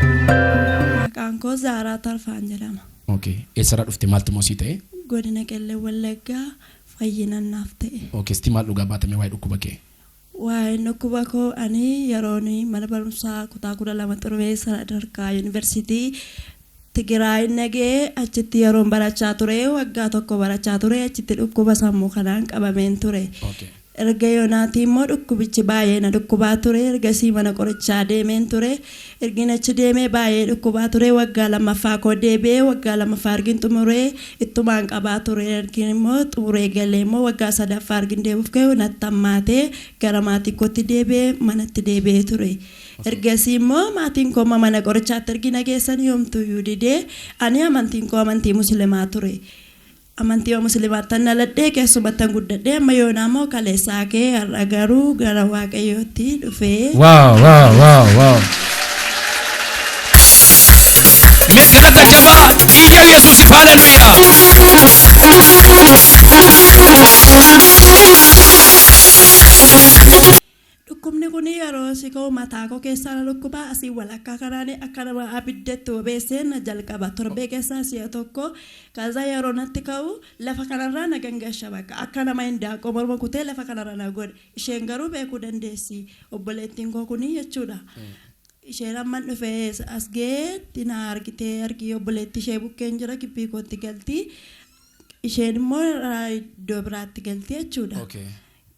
Maqaan koo Zaaraa Tarfaan jedhama. Okay. Eessarraa dhufte maaltu moo sii ta'e? Godina Qellem Wallaggaa fayyinan naaf ta'e. Okay. Sitti maal dhugaa baatame waa'ee dhukkuba kee? Waa'een dhukkuba koo ani yeroon mana barumsaa kutaa 12 xurumee sadarkaa yuunivarsiitii Tigiraayi nagee achitti yeroon barachaa ture waggaa tokko barachaa ture achitti dhukkuba sammuu kanaan qabameen ture. Okay. Erga yoonaatii immoo dhukkubichi baay'ee na dhukkubaa ture ergasii mana qorichaa deemeen ture Ergin achi deemee baayee dhukkubaa ture waggaa lammaffaa koo deebi'ee waggaa lammaffaa ergin xumuree ittumaan qabaa ture ergin immoo xumuree galee immoo waggaa sadaffaa ergin deebi'uuf ka'u natti hammaatee gara maatii kootti deebi'ee manatti deebi'ee ture ergasii immoo maatiin koo amma mana qorichaatti ergi na geessanii homtuuyyuu didee ani amantiin koo amantii musilimaa ture Amantiima muslimaattan dhaladhe, keessumattan guddadhe, amma yoonaa moo kaleessa hake, har'a garuu gara Waaqayyootti dhufee. Wow, wow, wow, wow. Mee galata jabaa iyya Yesuusif haleluyaa. Dhukkubni kun yeroo si ka'u mataakoo keessaa na dhukkuba, asiin walakkaa kanaan akka nama abidda itti bobeessee na jalqaba. Torbee keessaa si'a tokko. Kaza yeroo natti ka'u lafa kanarraa na gangasha bakka. Akka nama hindaaqqoo morma kutee lafa kanarra na godha. Isheen garuu beekuu dandeessi. Obboleettiin koo kuni jechuudha. Isheen amman dhufee as ga'eetti na argitee argii obboleettii ishee bukkeen jira gibbii kootti galti. Isheen immoo iddoo biraatti galti jechuudha. Okay.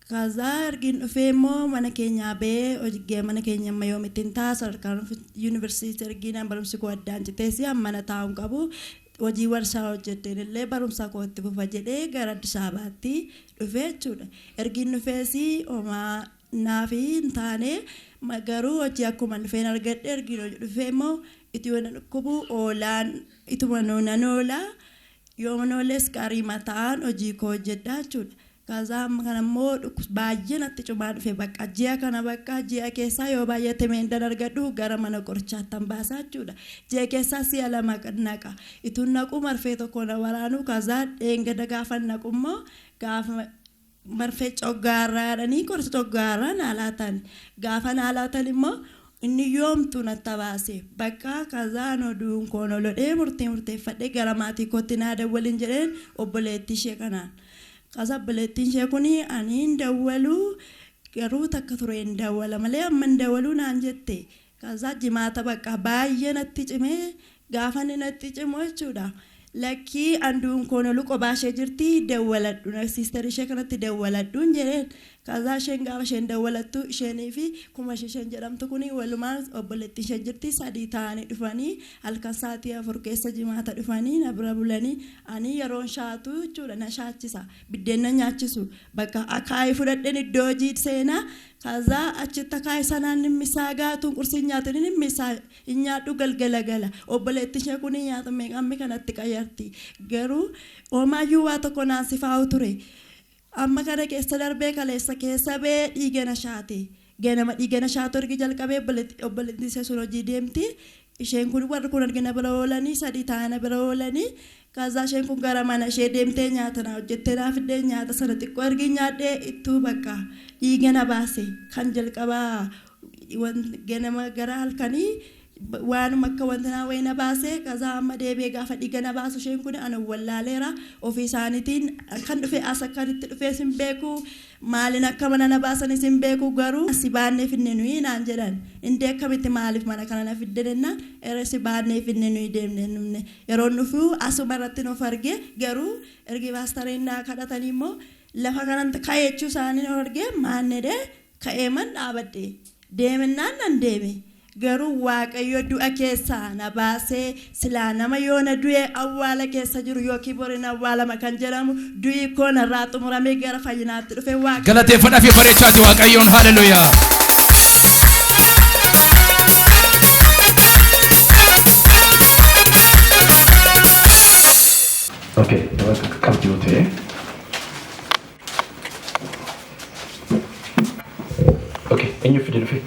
Kazaa ergiin dhufee immoo mana keenyaa ba'ee hojgee mana keenya amma yoomittiin ta'a sadarkaan yuunivarsiitii ergiinaan barumsi koo addaan citees mana taa'uun qabu hojii warshaa hojjetteen illee barumsa koo itti fufa jedhee gara Addis Ababaatti dhufee jechuudha. Ergiin dhufees homaa naaf hin taane garuu hojii akkuma dhufeen argadhe ergiin hojii dhufee immoo ituma na dhukkubu oolaan ituma nan oola yoon ooles gaarii mataan hojii koo hojjedha jechuudha. Kaza amma kana immoo dhukkubs baay'ee natti cumaa dhufe baqqa ji'a kana baqqa ji'a keessaa yoo baay'ate meendan argadhu gara mana qorichaattan baasa jechuudha ji'a keessaa si'a lama naqa ituun naquu marfee tokko na waraanuu kaza dheengada gaafan naqu immoo gaafa marfee coggaarraa jedhanii qorsa coggaarraa naa laatan gaafa naa laatan immoo Inni yoomtu na tabaase. Bakka kazaa anoo du'uun koo na lodhee murtii murteeffadhee gara maatii kootti naa dawwalin jedheen obboleettii ishee kanaan. Kaza obboleettiin ishee kuni ani hin dawwalu garuu takka tureen dawwala malee amma hin dawaluu naan jette. Kaza jimaata bakka baay'ee natti cimee Gaafa inni natti cimu jechuudha lakkii anduun koo nolu qobaa ishee jirti dawwaladhu na sister ishee kanatti dawwaladhuun jedheen kazaa isheen gaafa isheen dawwalattu isheenii fi kumash isheen jedhamtu kuni walumaan obboleettiin ishee jirti sadii ta'anii dhufanii halkan saatii afur keessa jimaata dhufanii na bira bulanii ani yeroon shaatu jechuudha na shaachisa biddeen na nyaachisu bakka akaayii fudhadheen iddoo hojii seenaa kazaa achitti akaayii sanaan nimmisaa gaatuun qursiin nyaatanii nimmisaa hin nyaadhu galgala gala obboleetti ishee kun hin nyaatu meeqa ammi kana itti qayyarti garuu omaayyuu waa tokko naan sifaa'u ture amma kana keessa darbee kaleessa keessa bee dhiigana shaate ganama dhiigana shaatu ergi jalqabee obboleetti ishee sun hojii deemti isheen kun warri kun ergi na bira oolanii sadii taa'ee na bira oolanii Kaazaa isheen kun gara mana ishee deemtee nyaata naa hojjettee naa fiddee nyaata sana xiqqoo ergiin nyaadhee ittuu bakka dhiiga na baase kan jalqabaa ganama gara halkanii waanuma akka wanta naa wayii na baase kazaa amma deebi'ee gaafa dhiiga na baasu isheen kun ana wallaaleera ofii isaaniitiin akkan dhufe as akkan itti dhufees hin beeku Maaliin akka mana na baasanis hin beeku garuu si baannee finne nuyi naan jedhan. Indee akkamitti maaliif mana kana na fidde jennaan eree si baannee finne nuyi deemnee hin dhufne. Yeroon dhufu asuma irrattin of arge garuu ergi paastareen naa kadhatanii immoo lafa kanan ka'e jechuu isaanii of argee maannedhee ka'eeman dhaabadhe. Deemennaan nan deeme. Garuu waaqayyo du'a keessaa na baasee silaa nama yoona du'e awwaala keessa jiru yookiin bor in awwaalama kan jedhamu du'i koo narraa xumuramee gara fayyinaatti dhufe waaqayyo Galateeffadha fi bareechaati Waaqayyoon. Haleluyaa. Okay, qabdi yoo ta'e. Okay, eenyu fide dhufe?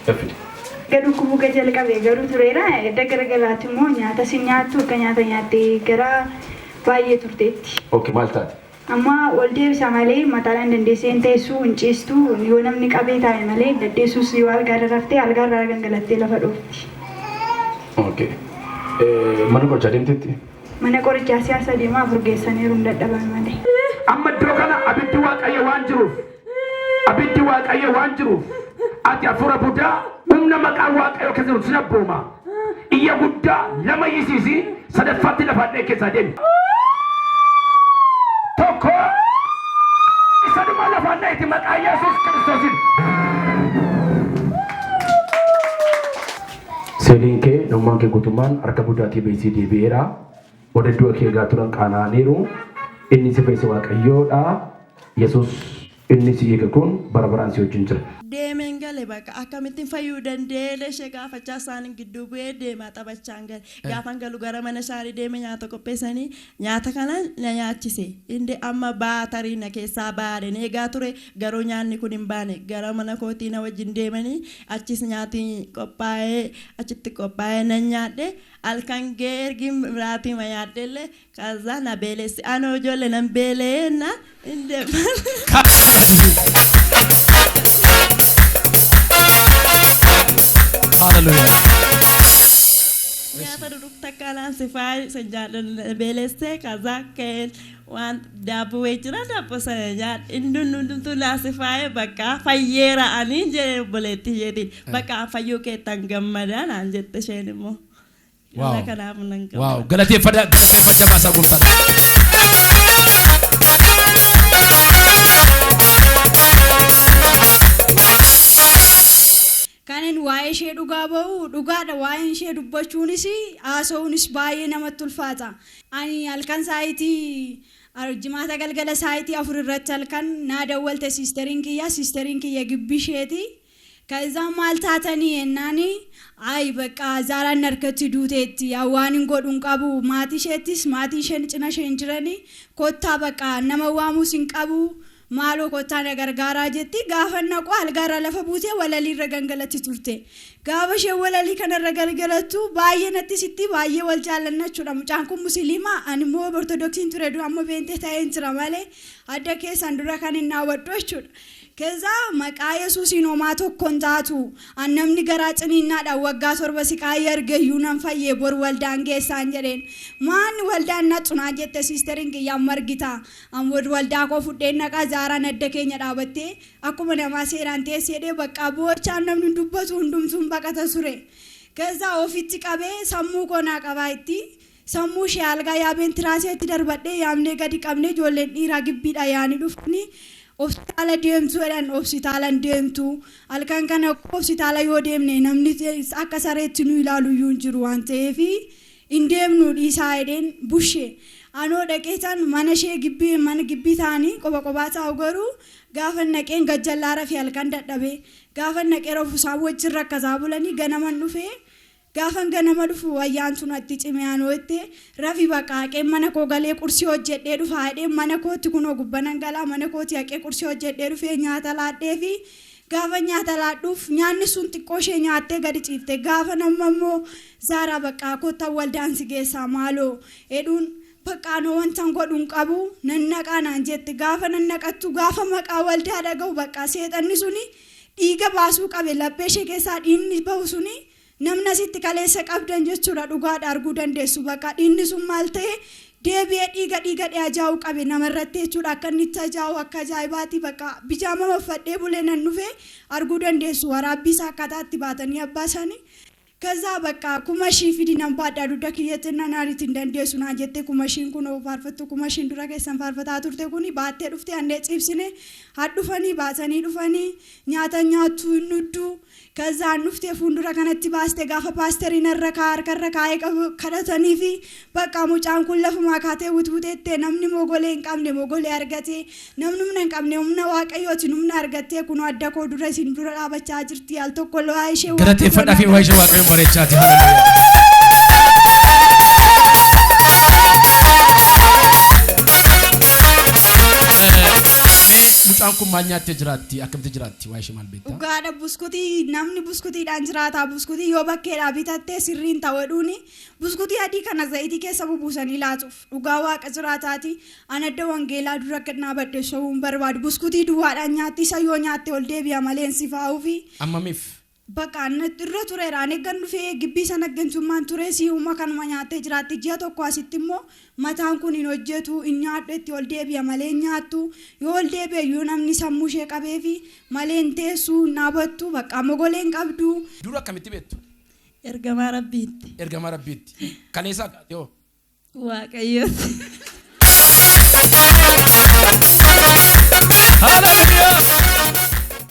Yoo fide. Erga dhukkubuu ga jalqabe garuu tureera. Edda gara galaatti immoo nyaata si nyaattu akka nyaata nyaattee gara baay'ee turteetti. Okay, maal taate? Amma ol deebisa malee mataadhaan dandeessee hin teessu, hin ciistu, yoo namni qabee taa'e malee hin daddeessus yoo algaarra raftee algaarraa gangalattee lafa dhoofti. Okay. Eh, Mana qorichaa deemteetti? Mana qorichaa si'a sadii moo afur geessaniiru hin dadhaban malee. Amma iddoo kana abiddi Waaqayyo waan jiruuf, abiddi Waaqayyo waan jiruuf, ati hafuura budaa humna maqaan Waaqayyoo keessa jiruun sin abbooma. Iyya guddaa lama iyyisiisi, sadaffaatti lafa hadha'e keessaa deemi. Tokko isa dhuma lafa hadha'eeti maqaa Yesuus Kiristoosiin. Seeliin kee, namummaan kee guutummaan harka Budaa TB sii deebi'eera. Warri du'a kee eegaa turan qaana'aniiru. Inni si fayyise Waaqayyoo dha. Yesuus inni si hiike kun bara baraan si wajjin jira. Deemeen gale baqa. Akkamittin fayyuu danda'eele ishee gaafachaa isaanin gidduu bu'ee deemaa taphachaan gale. Gaafan galu gara mana shaarii deeme nyaata qopheessanii Nyaata kana na nyaachise. Inde amma baa tarii na keessaa baa yaaden eegaa ture, garuu nyaanni kun hin baane. Gara mana kootii na wajjin deemanii achiis nyaati qophaa'ee achitti qophaa'ee nan nyaadhe. Halkan ga'ee ergin miraatiima nyaadhellee kazzaa na beelesse. Anoo ijoolle nan beela'ee jennaan. Hin deeman. Hallelujah. Gaafa dhudhuuf takka alaan sifaa isa jaallan beelessee kazaa ka'een waan daabboo wayii jira daabboo sana nyaadhe inni hundumtu naa sifaa'ee bakka fayyeera aniin jedhee obboleetti isheetiin bakka fayyuu keettan gammadaa naan jette isheen immoo. Waaw. Irra kanaaf nan Waaw, gammada. galateeffadha, galateeffadha baasaa gooftaadha. Kanin waa'ee ishee dhugaa ba'u dhugaadha waa'een ishee dubbachuunis haasa'uunis baay'ee namatti ulfaata. Ani halkan saayitii jimaata galgala saayitii afur irratti halkan naa dawwalte siisteriin kiyya siisteriin kiyya gibbii isheeti. Kazaan maal taatanii jennaan ayi baqqa Zaaraan narkatti duuteetti an waanin godhu hin qabu maatii isheettis maatiin isheen cina ishee hin jirani kottaa baqqa an nama waamus hin qabu maaloo kottaa na gargaaraa jetti gaafan naqu algaarraa lafa buutee walalii irra gangalatti turte gaafa isheen walalii kana irra galgalattu baay'ee natti sitti baay'ee wal jaallanna jechuudha mucaan kun musiliima an immoo ortodoksiin ture dura amma beentee ta'een jira malee adda keessan dura kan hin naawwadhu jechuudha Kenzaa maqaa yesuusiin homaa tokko hin taatu an namni garaa ciniinnaadhaan waggaa torba siqaayii argeyyuu nan fayye bor waldaan geessaan jedheen maan waldaan natsu naan jette siisteriin kiyya amma argita an bor waldaa koo fudheen dhaqaa zaaraan adda keenya dhaabattee akkuma namaa seeraan teesseedhee baqqaa boochaan namni dubbatu hundumtuun baqata ture kenzaa ofitti qabee sammuu koo naa qabaa itti Sammuu ishee algaa yaabeen tiraaseetti darbadhee yaabnee gadi qabnee ijoolleen dhiiraa gibbiidhaa yaa'anii dhufanii Hositaala deemtuu jedhan hositaalan deemtu halkan kana koo hositaala yoo deemne namni akka sareetti nu ilaalu iyyuu hin jiru waan ta'eef hin deemnu dhiisaa jedheen bushe anoo dhaqeetan mana ishee gibbii mana gibbii ta'anii qoba qobaa taa'u garuu gaafan dhaqeen gajjallaa rafe halkan dadhabee gaafan dhaqee rafu isaan wajjin rakkataa bulanii ganaman dhufee Gaafan ganama dhufu Ayyaantuu natti cimee anoo itti Rafi baqa haqeen mana koo galee qursii hojjedhee dhufa jedheen mana kootti kunoo gubbanan galaa mana kootii haqee qursii hojjedhee dhufee nyaata laadheefi gaafan nyaata laadhuuf nyaanni sun xiqqoo ishee nyaattee gadi ciifte gaafan amma immoo Zaaraa baqqaa kottan waldaan si geessaa maaloo jedhuun Baqqa anoo wantan godhu hin qabu nan dhaqaa naan jette gaafa nan dhaqattu gaafa maqaa waldaa dhagahu baqqa seexanni suni dhiiga baasuu qabe laphee ishee keessaa dhiigni bahu suni Namni asitti kaleessa qabdan jechuudha dhugaadha arguu dandeessu baqa dhiinni sun maal ta'e deebi'ee dhiiga dhiiga dhee ajaa'uu qabe nama irratti jechuudha akka inni itti ajaa'u akka ajaa'ibaati baqa bijaama maffadhee bulee nan dhufe arguu dandeessu waraabbii isaa akkaataa itti baatanii abbaa isaanii kazaa baqa kuma shii fidi nan baadhaa dugda kiyya jennaan naariit hin dandeessu naan jettee kuma shiin kun oo faarfattu kuma shiin dura keessan faarfataa turte kuni baattee dhufte annee ciibsine hadhufanii baatanii dhufanii nyaata nyaattuu hin dhudduu Kazaan dhuftee fuundura kanatti baaste gaafa paasterii narra kaa harkarra kaa'ee qabu kadhataniifi bakka mucaan kun lafumaa kaatee wutwuteettee namni mogolee hin qabne mogolee argatee namni humna hin qabne humna waaqayyootiin humna argattee kunoo adda koo dura isin dura dhaabachaa jirti al tokko lo'aa ishee waaqayyoon Galateeffadhaa fi waa ishee waaqayyoon bareechaati. Hallelujah. Eh, Mee mucaan kun maal nyaattee jiraatti? Akkamitti jiraatti? Waa ishee maal beektu? Dhugaadha buskutii namni buskutiidhaan jiraataa buskutii yoo bakkeedhaa bitattee sirriin tawadhuuni buskutii adii kana zayitii keessa bubuusanii laatuuf dhugaa waaqa jiraataati an adda wangeelaa dura akka dhaabadhe sobuun barbaadu buskutii duwwaadhaan nyaatti isa yoo nyaatte ol deebi'a maleen sifaa'uufi Ammamiif? Bakka anna irra tureera an eeggan dhufee gibbii sana gantummaan ture si'uma kanuma nyaattee jiraatti ji'a tokko asitti immoo Mataan kun hin hojjetu, hin nyaadhu itti ol deebi'a malee hin nyaattu. Yoo ol deebi'e iyyuu namni sammuu ishee qabeefi malee hin teessu, hin dhaabattu, baqqaa mogolee hin qabdu. Dur akkamitti beektu? Ergamaa Rabbiitti. Ergamaa Rabbiitti. Kaleessaa kaatee hoo? Waaqayyootti. Hallelujah!